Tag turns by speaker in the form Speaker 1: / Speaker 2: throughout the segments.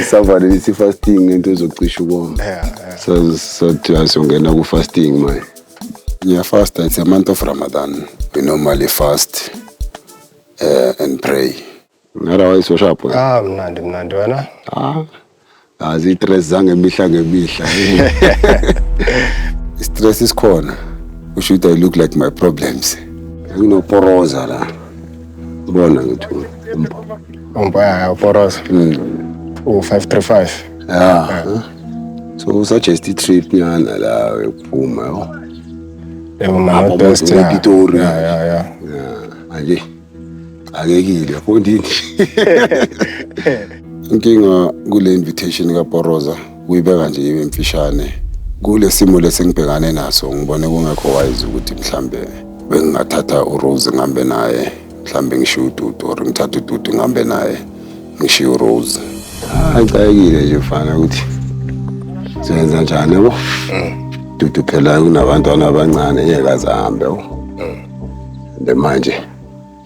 Speaker 1: isavane lithi fasting ngento ezocisha ukoma sathiwa siyongena ku-fasting manje ngiyafasta it's a month of ramadan we normally fast uh, and pray ngara wayisoshapo ah mnandi mnandi
Speaker 2: wena ah
Speaker 1: aziyi-stress zangemihla ngemihla i-stress isikhona usho ukuthi i look like my problems nginoporoza la Ubona ukuthi umpaya uporosa.
Speaker 2: Mm. U 535. Yeah.
Speaker 1: So usuggest i-trip nyana la yokuphuma yo. Yebo
Speaker 2: mama best ya. Pitori. Yeah yeah yeah. Manje.
Speaker 1: Akekile yabona into. Inkinga kule invitation kaPoroza Kuyibeka nje ibe mfishane. Kule simo lesengibhekane naso ngibone kungekho wise ukuthi mhlambe bengingathatha uRose ngihambe naye mhlambe ngishiye uDudu or ngithathe uDudu ngihambe naye ngishiye uRose. Ayicayekile nje mfana ukuthi senza njani yabo. Dudu phela kunabantwana abancane ngeke azahambe yabo. Nde manje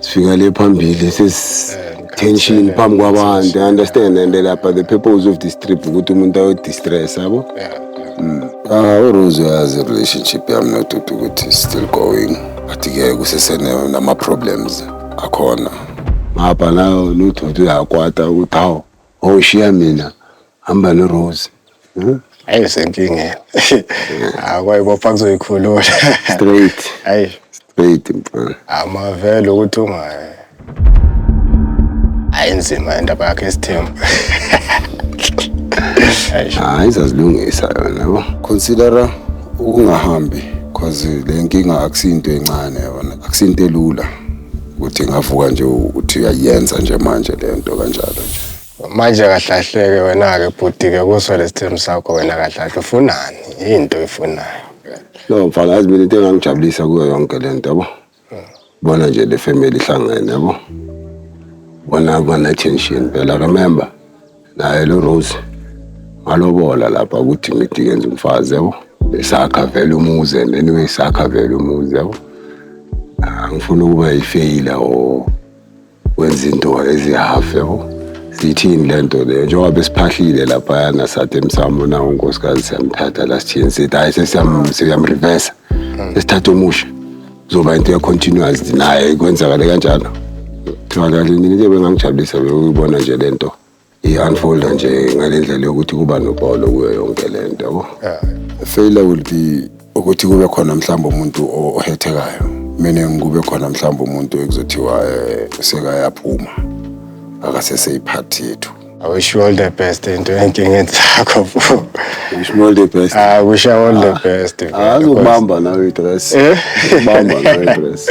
Speaker 1: sifika le phambili sesi tension phambi kwabantu i understand and lapha the purpose of this trip ukuthi umuntu ayodistress yabo mm. ah urose uyazi relationship yami nodudu ukuthi still going but ke kusesenama-problems akhona ngapha nayo nodudu uyakwata ukuthi hawu owushiya mina hamba norose hmm? ayi
Speaker 2: senkingeni akwayibopha kuzoyikhulula straight
Speaker 1: ayi straight mfana amavele ukuthi
Speaker 2: ungayi ayinzima indaba yakhe isithembu
Speaker 1: hayi izazilungisa yona yabo considera ukungahambi cause le nkinga akusinto encane yona akusinto elula ukuthi ngavuka nje uthi uyayenza nje manje le nto kanjalo nje Manje
Speaker 2: kahlahleke wena-ke bhuti-ke kuso lesithembu sakho wena kahlahle ufunani into oyifunayo No mfana
Speaker 1: yazi mina into engangijabulisa kuyo yonke le nto yabo. Bona nje le family ihlangene yabo. Bona bana tension phela remember naye lo Rose ngalobola lapha ukuthi ngithi ngenza umfazi yabo. Besakha vele umuzi and anyway sakha vele umuzi yabo. Angifuni ukuba yifeyila or wenza into ezihafu yabo siyithini le nto leyo njengoba besiphahlile laphayana sathi emsamo nawo unkosikazi siyamthatha la sithini sithi hhayi sesiyam- siyamrivesa sesithatha omusha kuzoba into ye-continuous naye kwenzakale kanjalo kuthiwa kanti into ebengangijabulisa beyuyibona nje le nto i-unfolda nje ngale ndlela yokuthi kuba nobholo kuyo yonke le nto yabo failure will be ukuthi kube khona mhlawumbe umuntu ohethekayo meaning kube khona mhlawumbe umuntu ekuzothiwa eh, sekayaphuma akaseseyiphathi yethu I wish you all the
Speaker 2: best into enkingeni zakho bro. Wish me
Speaker 1: all the best. I wish you all the ah,
Speaker 2: best.
Speaker 1: Ah,
Speaker 2: azokubamba nawe
Speaker 1: i-dress. Eh?
Speaker 2: Azokubamba nawe
Speaker 1: i-dress.